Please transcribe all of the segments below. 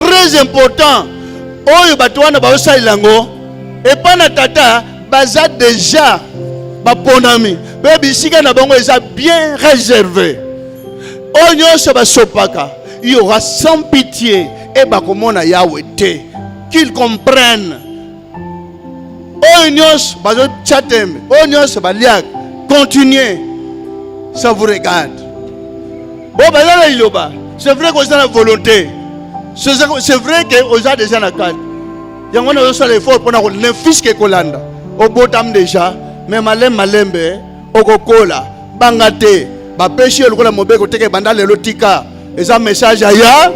très important oyo bato wana baosalela yango epai na tata baza deja baponami mpe bisika na bango eza bien réservé oyo nyonso basopaka il y aura sans pitié et bakomona Yahweh te qu'ils comprennent oyo nyonso bazotya tembe oyo nyonso baliaka continuer ça vous regarde bon baza na liloba c'est vrai koza na volonté c'est vrai ke oza deja na kati yango wana ozosala effort mpona kolanda fiske kolanda obotami deja me malembe malembe okokola banga te bapesi yo lokola mobeko teke banda lelo tika eza message aya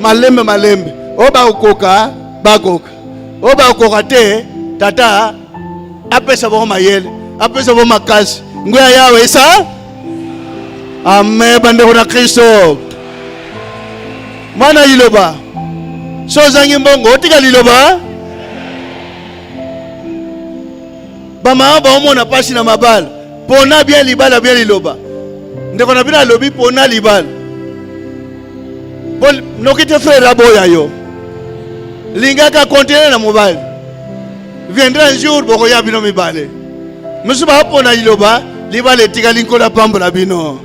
malembe malembe oyo bakokoka bakoka oyo bakoka te tata apesa bango mayele apesa bango makasi ngwi ya yawe esa ame bandeko na kristo mwana liloba so ozangi mbongo otika liloba bamama baomona mpasi na mabala pona bien libala bien liloba ndeko na bino alobi pona libala Bon, noki te frère aboya yo lingaka continue na mobali viendra un jour bokoya bino mibale mosusu bapona liloba libala etikali nkolo apambola bino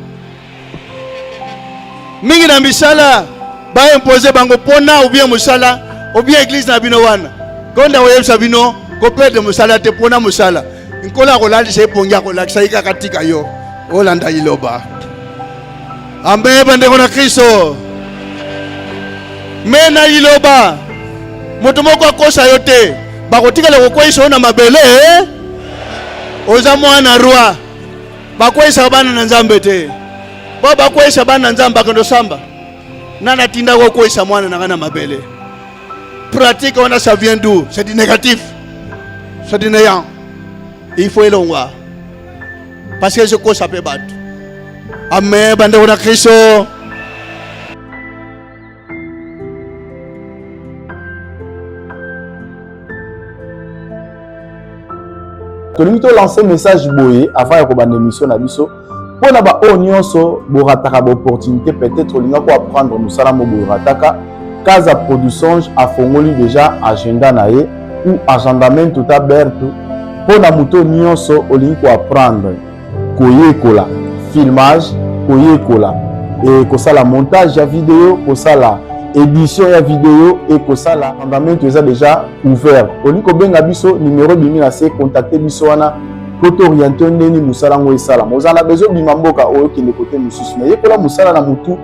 mingi na misala baimpose bango mpona obien mosala obien eglize na bino wana konda koyebisa bino koperde mosala te mpona mosala nkolo akolalisa epongi akolakisa ye kaka tika yo olanda liloba Ambe bandeko na Kristo, me na liloba moto moko akosa yo te, bakotikala kokweisa yo na mabele. Eh? Oza mwana roi, bakweisaka bana na Nzambe te. Bo bakweisa bana na Nzambe bakendo samba, nani atinda kokweisa mwana na ngai na mabele? Pratique wana ça vient d'où? C'est du négatif, c'est du néant, il faut elongwa parce que je kosa pe batu amen bandeko na kristo tolingi tolanse message boye avant ya kobanda émission na biso mpo na baoyo nyonso borataka baopportunité peut-être olinga ko apprendre mosala mo borataka kaza produchange afongoli déjà agenda na ye ou agendamento ta berto mpo na moto nyonso olingi koapprendre koyekola filmage koyekola e kosala montage ya video kosala édition ya video e kosala agendamento eza déjà ouvert olingi kobenga biso numero ebimi na se contacte biso wana mpo tooriente ndeni mosala yango esalama ozala na bezo obima mboka oyo okende kote mosusu na yekola mosala na motu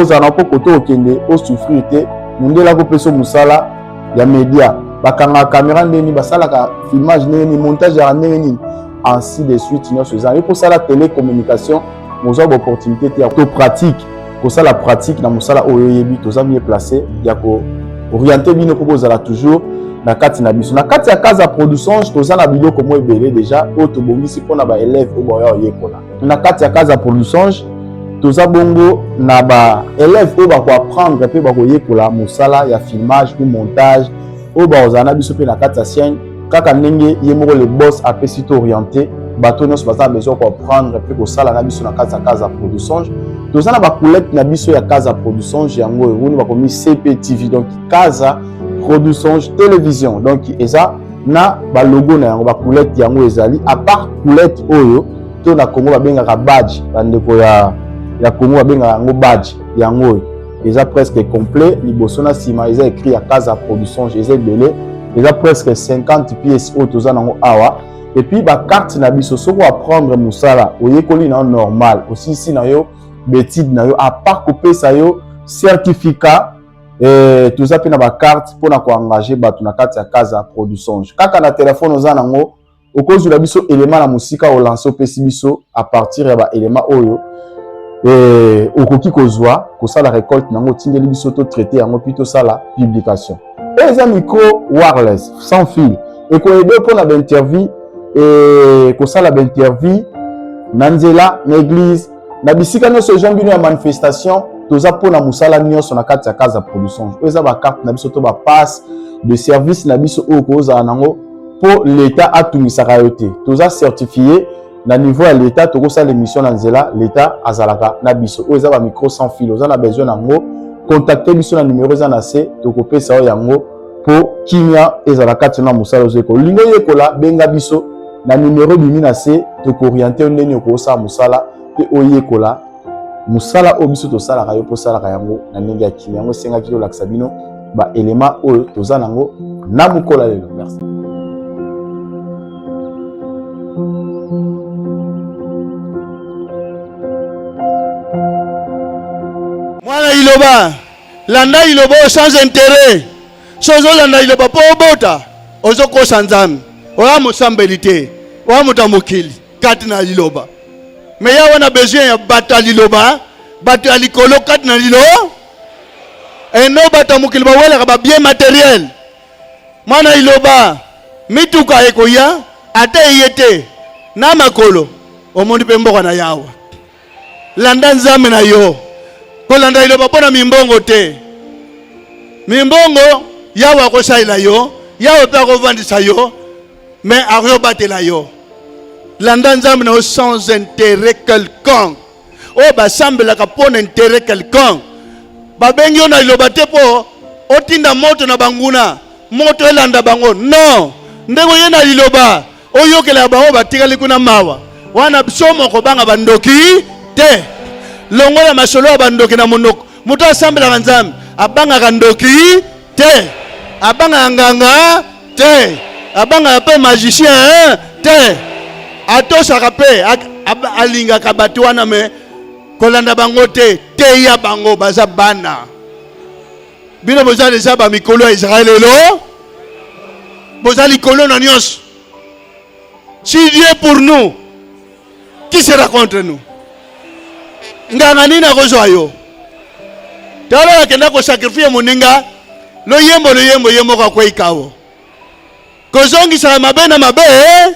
ozala na mpo kote okende osouffrir te mundele akopesa mosala ya media bakanga kamera ndenge nini basalaka filmage ndenge nini montage yaka ndenge nini ainsi de suite nyonso eza yo kosala télécommunication mozwa baopportunité te ya to pratique kosala pratique na mosala oyo oyebi toza mieux place ya ko oriente bino mpo bozala toujours na kati na biso na kati ya casa produçange toza na biloko mwa ebele déjà oyo tobongisi mpo na baelève oyo baoya oyekola na kati ya casa pour lusonge toza bongo na ba élèves oyo bakoapprendre mpe bakoyekola mosala ya filmage ou montage oyo bakozala na biso mpe na kati ya chaîne kaka ndenge ye moko le boss apesi to orienté bato nyonso baza na besoin koapprendre mpe kosala na biso na kati ya casa pour lusonge toza na bacollègue na biso ya casa pour lusonge yango oyo boni bakomi cptv donc casa produsonge télévision donc eza na balogo na yango bakulete yango ezali apart kulete oyo to na congo babengaka badge bandeko ya, ya congo babengaka yango badge yango oyo eza presque complet liboso na nsima eza écrit ya casa production eza ebele eza presque 50 pièces oyo toza nango awa epuis bakarte na biso soki oaprendre mosala oyekoli na yo normal osilisi na yo betide na yo apart kopesa yo certificat e, toza mpe na bacarte mpo na koengage bato na kati ya kaza produsonge kaka na telefone oza nango okozwila biso elema na mosika olanse opesi biso a partir ya baelema oyo e, okoki kozwa kosala recolte na yango otindeli biso to traite yango mpi tosala publication oyo eza micro wireless sans fil ekoyede mpo na bainterview e, kosala bainterview na nzela na eglise na bisika nyonso ejon bino ya manifestation toza mpo na mosala nyonso na kati ya case ya production oyo eza bacarte na biso to bapasse de service na biso oyo kozala nango mpo leta atungisaka yo te toza certifie na niveau ya leta tokosala émission na nzela leta azalaka na biso oyo eza bamicro sans fil oza na besoin na yango contacte biso na numero eza na se tokopesa yo yango mpo kimia ezala kati na mosala ozo yekola olingi oyekola benga biso na numero ebimi na se tokooriente yo ndenge okosala mosala mpe oyekola mosala oyo biso tosalaka yo mpo osalaka yango na ndenge ya kimia yango esengaki tolakisa bino baelema oyo toza na yango na mokola lelo merci Liloba. landa liloba oyo sans intérêt so ozolanda liloba mpo obota ozokosa nzambe oya mosambeli te oya moto ya mokili kati na liloba me ya wana besoin ya bato ya liloba bato ya likolo kati na lilo eno bato ya mokili bawelaka babien materiel mwana liloba mituka ekoya ata eye te na makolo omoni mpe mboka na yawa Landa Nzambe na yo. Kolanda liloba mpo na mimbongo te. Mimbongo Yawe akosalela yo, Yawe mpe akovandisa yo, mais akoki obatela yo. Landa Nzambe na yo sans intérêt quelconque. Oyo basambelaka mpo na intérêt quelconque. Babengi yo na liloba te mpo otinda moto na banguna, moto elanda bango. Non, ndenge oye na liloba Oyokela ya baoyo batikali kuna mawa. Wana biso moko banga bandoki te. Longola masolo ya bandoki na monoko. Moto asambelaka Nzambe abangaka ndoki te. Abangaka nganga te. Abangaka mpe magicien te. Atosaka mpe alingaka bato wana me kolanda bango te. Teya bango baza bana. bino boza deja ba mikolo ya Israël elo boza likolo na nyonso si Dieu pour nous qui sera contre nous nganga nini akozwa yo tala akenda kosakrifie moninga loyembo loyembo ye moko akwei kawo kozongisaka mabe na mabe eh?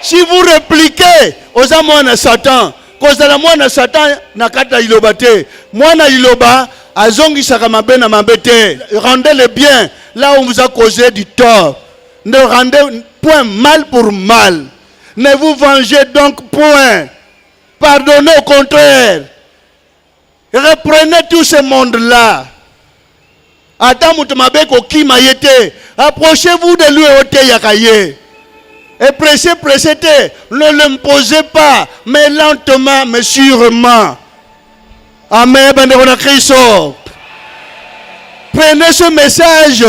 si vous repliquez oza mwana satan kozala mwana satan na kati ya liloba te mwana liloba azongisaka mabe na mabe te rendez le bien là on vous a causé du tort ne rendez point mal pour mal ne vous vengez donc point pardonnez au contraire Reprenez tout ce monde là. Ata moto mabe kokima ye te. Approchez-vous de lui oteyaka ye. Et pressez, pressez te. Ne l'imposez pas, mais lentement, mais sûrement. Amen, bandeko na Kristo. Prenez ce message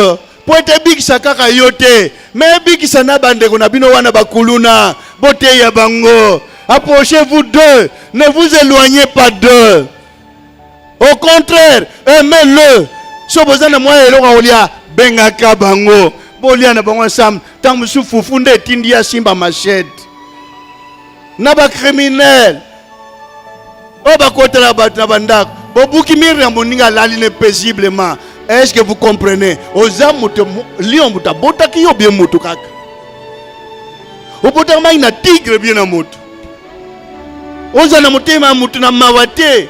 mpo ete ebikisa kaka yo te me ebikisa na bandeko na bino wana bakuluna boteya bango approchez vous deux ne vous éloignez pas deux au contraire aimez le so boza na mwa eloko akolia bengaka bango bolia na bango ensemble ntango mosusu fufu nde etindi ya simba machete na ba criminel oyo bakotela bato na bandako bobuki mire ya moninga alali ne paisiblement est ce que vous comprenez oza moto lion moto abotaki yo bie moto kaka obotaka mai na tigre bie na moto oza na motema ya moto na mawa te